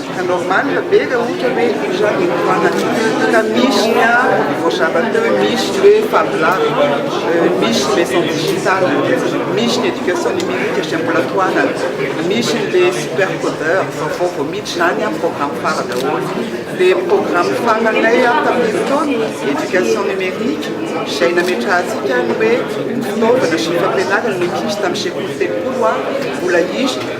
Ka normal be raha ohatra hoe io zany no tohanany ka misy ny ahy voazara teo hoe misy ny hoe fablab, misy ny maison digital, misy ny education numerique izay mbola tohanany, misy ny le super codeur vaovao vao miditra izany an programme fara daholo, le programme faranay an tamin'ny fotoana education numerique izay nametrahantsika ny hoe fitaovana sy ny fampianarana ny ankizy tamin'ny sekoly telopolo an mbola izy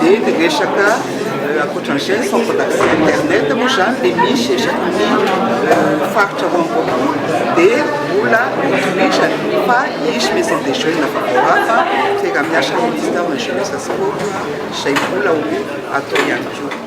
dia ny resaka ankoatran'izay ny centre d'accès internet moa izany dia misy isaky ny faritra roa amby roapolo dia mbola hotohizany fa hisy maison des jeunes vaovao hafa fiaraha-miasa amin'ny ministère de la jeunesse et des sports izay mbola ho atao ihany koa